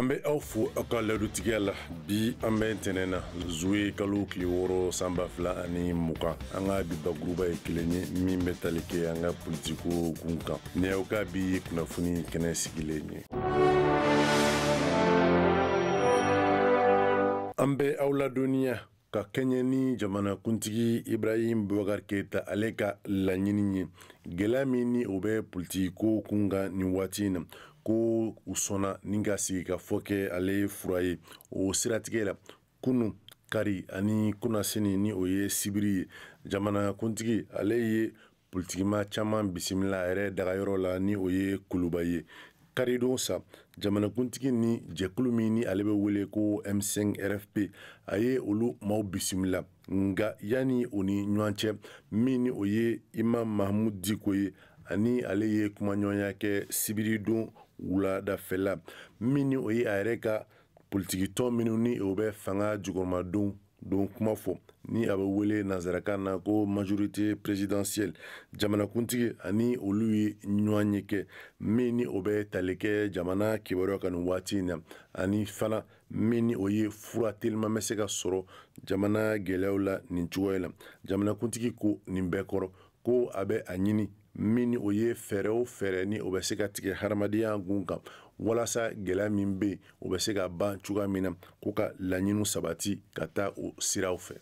an bɛ aw fo aw ka ladutigiya la bi an bɛ ntɛnɛn na zuye kalo tile wɔɔrɔ san ba fila ani mugan an ka bi bakuruba ye kelen ye min bɛ tali kɛ an ka politiko kun kan ni aw ka bi kunnafoni kɛnɛ sigilen ye an bɛ aw ladɔnniya ka kɛɲɛ ni jamanakuntigi ibrahim bubakar keyita ale ka laɲini ye gɛlɛya min ni o bɛ politikiko kun kan nin waati in na ko u sɔnna ni ka sigikafɔ kɛ ale fura ye o siratigɛ la kunu kari ani kunasini ni o ye sibiri ye jamanakuntigi ale ye politikima caman bisimila a yɛrɛ dagayɔrɔ la ni o ye kuluba ye karidon sa jamanakuntigi ni jɛkulu min ni ale bɛ wele ko m5 rfp a ye olu maaw bisimila nka yanni o ni ɲɔgɔn cɛ min ni o ye imam mahamud diko ye ani ale ye kumaɲɔgɔnya kɛ sibiridon wuladafɛla min ni o ye a yɛrɛ ka politikitɔn minnu ni o bɛ fanga jukɔrɔmadon don kuma fɔ ni a bɛ wele nanzarakan na ko majorité présidentielle jamanakuntigi ani olu ye ɲɔgɔnye kɛ min ni o bɛ tali kɛ jamana kibaruya kan nin waati in na ani fana min ni o ye fura telima bɛ se ka sɔrɔ jamana gɛlɛyaw la nin cogoya la jamanakuntigi ko nin bɛɛ kɔrɔ ko a bɛ a ɲini min ni o ye fɛɛrɛ o fɛɛrɛ ni o bɛ se ka tigɛ hadamadenya gun kan walasa gɛlɛya min bɛ yen o bɛ se ka ban cogoya min na ko ka laɲiniw sabati ka taa o siraw fɛ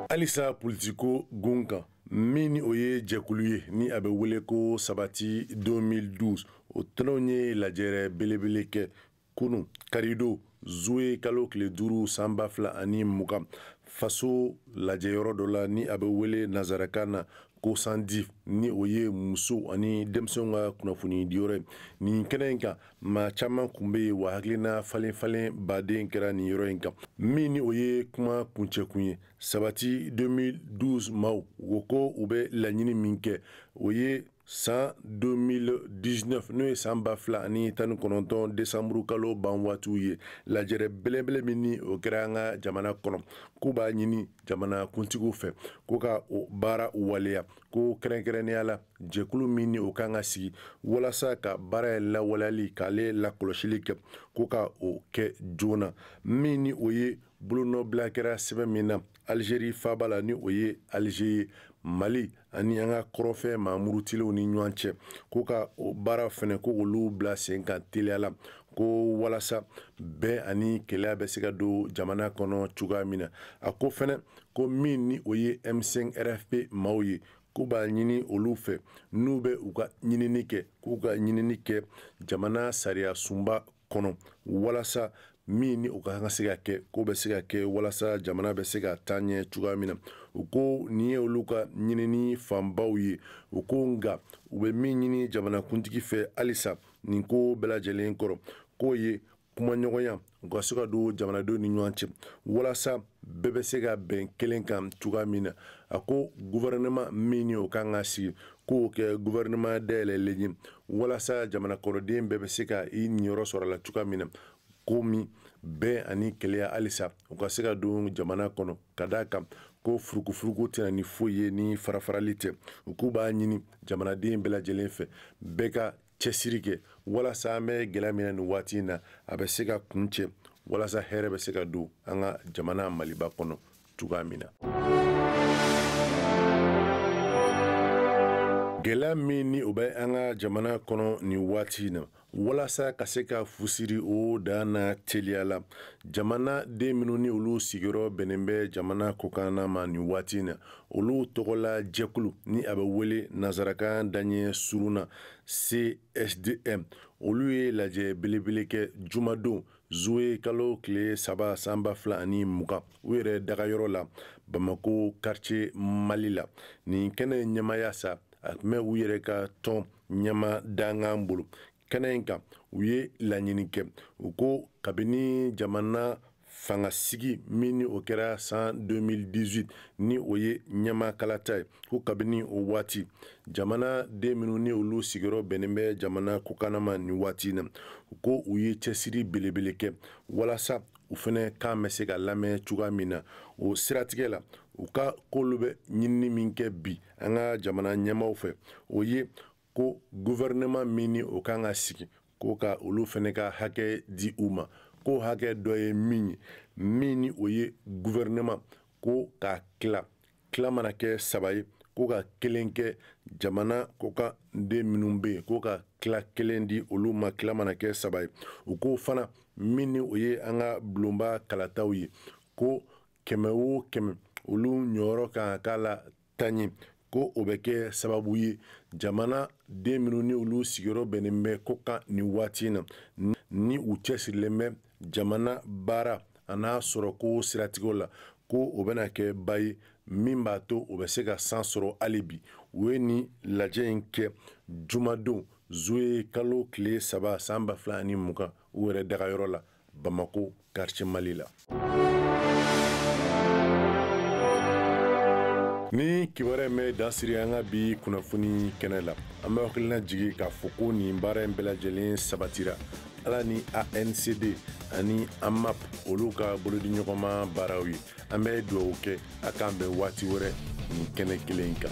halisa politiko gun kan min ni o ye jɛkulu ye ni a bɛ wele ko sabati 2012 o tɔnw ye lajɛrɛ belebele kɛ kunu karidon zuye kalo tile duuru san ba fila ani mugan faso lajɛyɔrɔ dɔ la ni a bɛ wele nanzarakan na ko cndife ni o ye musow ani denmisɛnw ka kunnafoni diyɔrɔ ye nin kɛnɛ in kan maa caman kun bɛ yen wa hakilina falen falen ba de kɛra nin yɔrɔ in kan min ni o ye kuma kuncɛkun ye sabati 2012 maaw o ko u bɛ laɲini min kɛ o ye san 2019 n'o ye san ba fila ani tan ni kɔnɔntɔn desanburu kalo ban waatiw ye lajɛrɛ belebele min ni o kɛra an ka jamana kɔnɔ k'u b'a ɲini jamanakuntigiw fɛ ko ka o baara waleya ko kɛrɛnkɛrɛnnenya la jɛkulu min ni o kan ka sigi walasa ka baara ye lawaleyali k'ale lakɔlɔsili kɛ ko ka o kɛ joona min ni o ye bolonɔbila kɛra sɛbɛn min na alizeri faaba la ni o ye alize ye mali ani an ka kɔrɔfɛ maa murutilenw ni ɲɔgɔn cɛ ko ka o baara fɛnɛ ko olu bila sen kan teliya la ko walasa bɛn ani kelenya bɛ se ka don jamana kɔnɔ cogoya min na a ko fɛnɛ ko min ni o ye m5 rfp maaw ye k'u b'a ɲini olu fɛ n'u bɛ u ka ɲinini kɛ k'u ka ɲinini kɛ jamana sariya sunba kɔnɔ walasa min ni o ka kan ka se ka kɛ k'o bɛ se ka kɛ walasa jamana bɛ se ka taa ɲɛ cogoya min na u ko nin ye olu ka ɲinini fanbaw ye u ko nka u bɛ min ɲini jamanakuntigi fɛ halisa nin ko bɛɛ lajɛlen kɔrɔ k'o ye kumaɲɔgɔnya u ka se ka don jamanadenw ni ɲɔgɔn cɛ walasa bɛɛ bɛ se ka bɛn kelen kan cogoya min na a ko guvɛrɛnɛma min ni o kan ka sigi k'o kɛ gouvernement dayɛlɛlen ye walasa jamana kɔnɔden bɛɛ bɛ se ka i niyɔrɔ sɔrɔ a la cogoya min na komi bɛn ani kelenya halisa u ka se ka don jamana kɔnɔ ka d'a kan ko furukufuruku tɛ na ni foyi ye ni farafarali tɛ u k'u b'a ɲini jamanaden bɛɛ lajɛlen fɛ bɛɛ ka cɛsiri kɛ walasa an bɛ gɛlɛya min na nin waati in na a bɛ se ka kuncɛ walasa hɛrɛ bɛ se ka don an ka jamana maliba kɔnɔ cogoya min na gɛlɛya min ni o bɛ an ka jamana kɔnɔ nin waati in na walasa ka se ka fu siri o dan na teliya la jamana den minnu ni olu sigiyɔrɔ bɛnnen bɛ jamana kɔkanna ma nin waati in na olu tɔgɔla jɛkulu ni a bɛ wele nansarakan daɲɛ surun na CSDM olu ye lajɛ belebele kɛ jumadon zuwe kalo tile saba san ba fila ani mugan u yɛrɛ dagayɔrɔ la bamako karitiye mali la nin kɛnɛ ɲɛmaaya sa a tun bɛ u yɛrɛ ka tɔn ɲɛmaa dankan bolo kɛnɛ in kan u ye laɲini kɛ u ko kabini jamana fangasigi min ni o kɛra san 2018 ni o ye ɲɛmaakalata ye ko kabini o waati jamana den minnu ni olu sigiyɔrɔ bɛnnen bɛ jamana kɔkanna ma nin waati in na ko u ye cɛsiri belebele kɛ walasa u fɛnɛ kan bɛ se ka lamɛn cogoya min na o siratigɛ la u ka k'olu bɛ ɲinini min kɛ bi an ka jamana ɲɛmaaw fɛ o ye ko gouvernement min ni o kan ka sigi ko ka olu fɛnɛ ka hakɛ di u ma ko hakɛ dɔ ye min ye min ni o ye gouvernement ko k'a tila tila mana kɛ saba ye ko ka kelen kɛ jamana kɔkan den minnu bɛ yen ko ka tila kelen di olu ma tila mana kɛ saba ye u ko fana min ni o ye an ka bulonba kalataw ye ko kɛmɛ o kɛmɛ olu ɲɔyɔrɔ kan ka k'a la tan ye ko o bɛ kɛ sababu ye jamanaden minnu ni olu sigiyɔrɔ bɛnnen bɛ ko kan nin waati na ni u cɛsirilen bɛ jamana baara an'a sɔrɔko siratigɛw la ko o bɛna kɛ ba ye min b'a to o bɛ se ka san sɔrɔ hali bi u ye nin lajɛ in kɛ jumadon zuye kalo tile saba san ba fila ani mugan u yɛrɛ dagayɔrɔ la bamako quartier mali la nin kibaruya in bɛ dan siri an ka bi kunnafoni kɛnɛ la an bɛ hakilina jigi k'a fɔ ko nin baara in bɛɛ lajɛlen sabatira ala ni ancd ani amap olu ka bolodiɲɔgɔnma baaraw ye an bɛ dugawu kɛ a k'an bɛn waati wɛrɛ nin kɛnɛ kelen kan